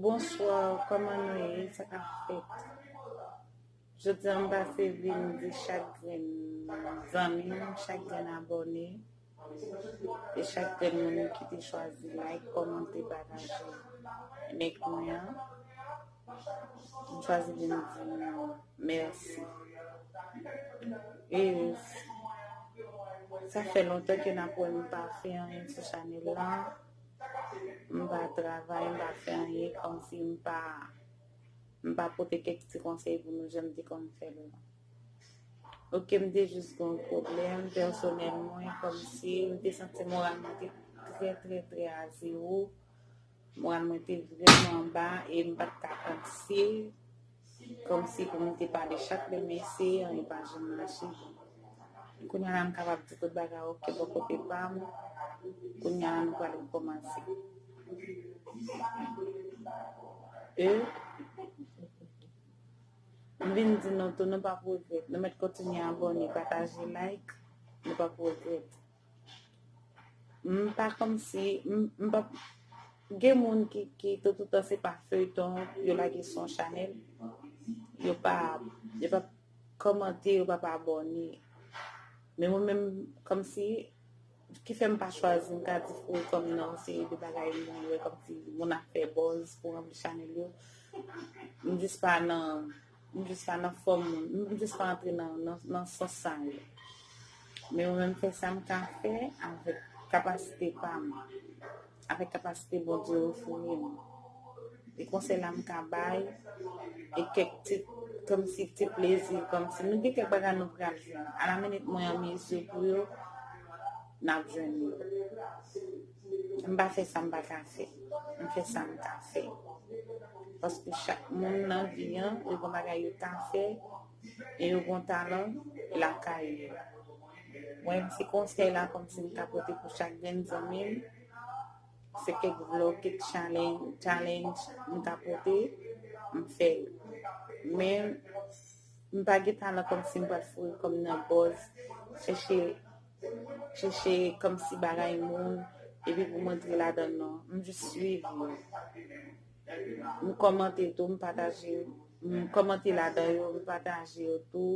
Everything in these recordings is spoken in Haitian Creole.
Bonsoir kòman nou ye sa kap fèt jodi an m pase vin di chak grenn zanmi m chak grenn abòne E chak grenn moun ki te chwazi like, kòmante, pataje link mwen an. M chwazi vin di nou mèsi. E sa fè lontan ke nap wè m pa fè anyen sou chanèl la. M pa travay, m pa fè anyen kòmsi m pa m pa pote kèk ti konsèy pou nou jan m te konn fè l. Ok m te jis gen yon pwoblèm pèsonèl mwen kòmsi m te santi moral mwen te trè trè trè a zewo moral mwen te vrèman anba e m pat ka panse kòmsi pou m te pale chak lè m eseye anyen pa janm mache kounya la m kapab di tout bagay ok bò kote pa m kounya la nou pral rekòmanse e M vin di nou tou nou pap regrèt. Nou mèt kontinye abòne, pataje, like, nou pap regrèt. M pa kòmsi, m pap, gen moun ki de toutan se pa feyton yo lage sou yon chanèl, yo pa, yo pap kòmante, yo pap abòne. Men mwen menm kòmsi. Ki fè m pa chwazi m ta di fou kòm nan seri de bagay li li wè kòm si moun ap fè buzz pou ranpli chanèl yo m jis pa nan m jis pa nan fòm m jis pa antre nan sans sa yo men mwen menm fè sa m ka fè avèk kapasite pa m Avèk kapasite Bondye ofri m, e konsèy la m ka bay, e kèk ti, kòmsi ti plezi, kòmsi nou gen kèk bagay nou pral jwenn, alaminit mwen an mezi pou yo, n ap jwenn yo. M pa fè sa m pa ka fè. M fè sa m ka fè. Paske chak moun nan vi an, yo gen bagay yo ka fè. e yo gon talan lakay yo mwen se konsèy la kòmsi m ka pote pou chak grenn zanmi m se kèk vlog kèk challenge m ka pote m fè l men m pa gen talan kòmsi m pral foure kòm nan bòz chèche chèche kòmsi bagay moun epi pou m antre ladan nan m jis swiv yo. m kòmante tou m pataje m kòmante ladan yo m pataje yo tou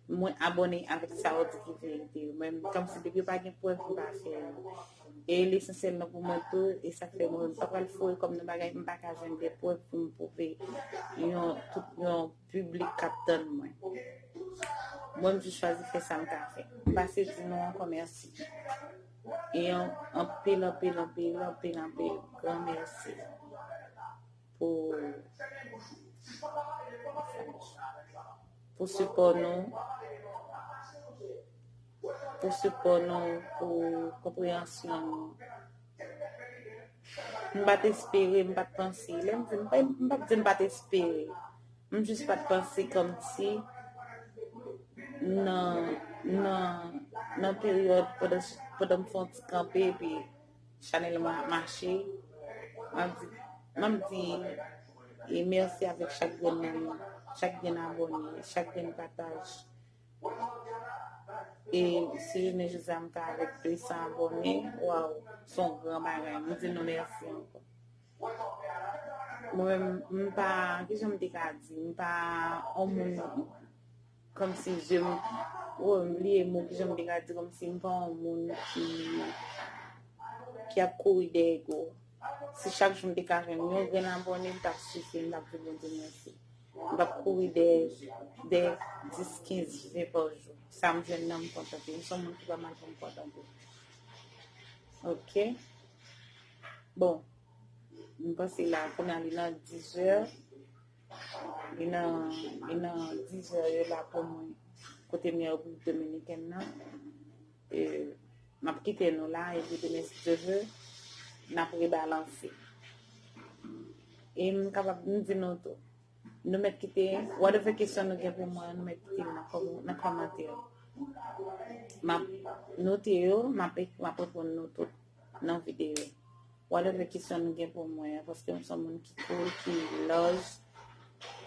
mwen abòne avèk sa yo di ki verite yo men kòmsi depi yo pa gen prèv m pa fè yo e l esansyèl nan pou mwen tou e sa fè mwen m pa pral foure kò m nan bagay m pa ka jwenn de prèv pou m pwouve yon tout yon piblik k ap tann mwen mwen m jis chwazi fè sa m ka fè m pase di nou ankò mèsi. Yon anpil anpil anpil anpil anpil gran mèsi pou pou sipò nou pou sipò nou pou konpreyansyon nou m pat espere m pat panse lè m di m pat di m pat espere M jis pat panse komsi nan nan nan peryòd pandan pandan m fè yon ti kanpe epi chanèl mwen ap mache map di map di e mèsi avèk chak grenn moun chak grenn abòne chak grenn pataj e si jounen jodi a m ta avèk 200 abòne waw son gran bagay m di nou mèsi ankò. Mwen m pa, kijan m te ka di, m pa yon moun kòmsi je m, oh m bliye mo kijan m te ka di kòmsi m pa yon moun ki ki ap kouri dèyè ego. Si chak jou m te ka jwenn yon grenn abòne m t ap sifi m t ap di Bondye mèsi. M p ap kouri dèyè dèyè 10, 15, 20 pa jou. Sa m jwenn nan m kontante. M se yon moun ki pa mal pou m kontante. Ok. Bon, m panse la kounye a li nan 10 è. Li nan, li nan 10 è yo la pou mwen. Kote m ye República Dominikèn nan. E, m ap kite nou la, epi demen si Dye ve, n ap rebalanse. E m kapab m di nou tou, nou mèt kite, whatever kesyon nou gen pou mwen, nou mèt kite m nan kòmantè yo. M ap note yo, m ap reponn nou tout. nan video. Whatever kisyon nou gen pou mwen an paske m son moun ki cool, ki love,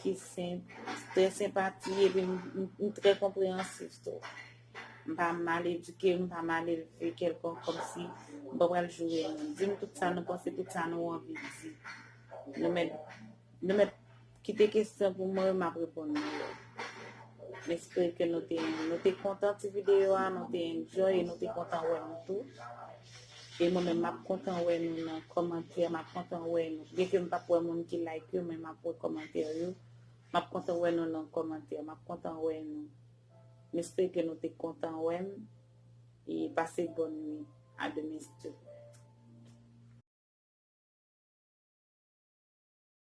ki senp, trè senpati epi m trè konpreyansif tou. M pa mal edike, m pa mal elve kèlkonk kòmsi m pa pral joure moun. Di m tout sa nou panse, tout sa nou anvi di. Nou mèt nou mèt Kite kesyon pou mwen map reponn nou yo. M espere ke nou te kontan ti video a, nou te enjoy e nou te kontan wè nou tou. E mwen menm map kontan wè nou nan kòmantè, map kontan wè nou. Byen ke m pap wè moun ki like yo men map wè kòmantè yo. Map kontan wè nou nan kòmantè, map kontan wè nou. M espere ke nou te kontan wè m e pase bòn nwi. A demen si Dye vle.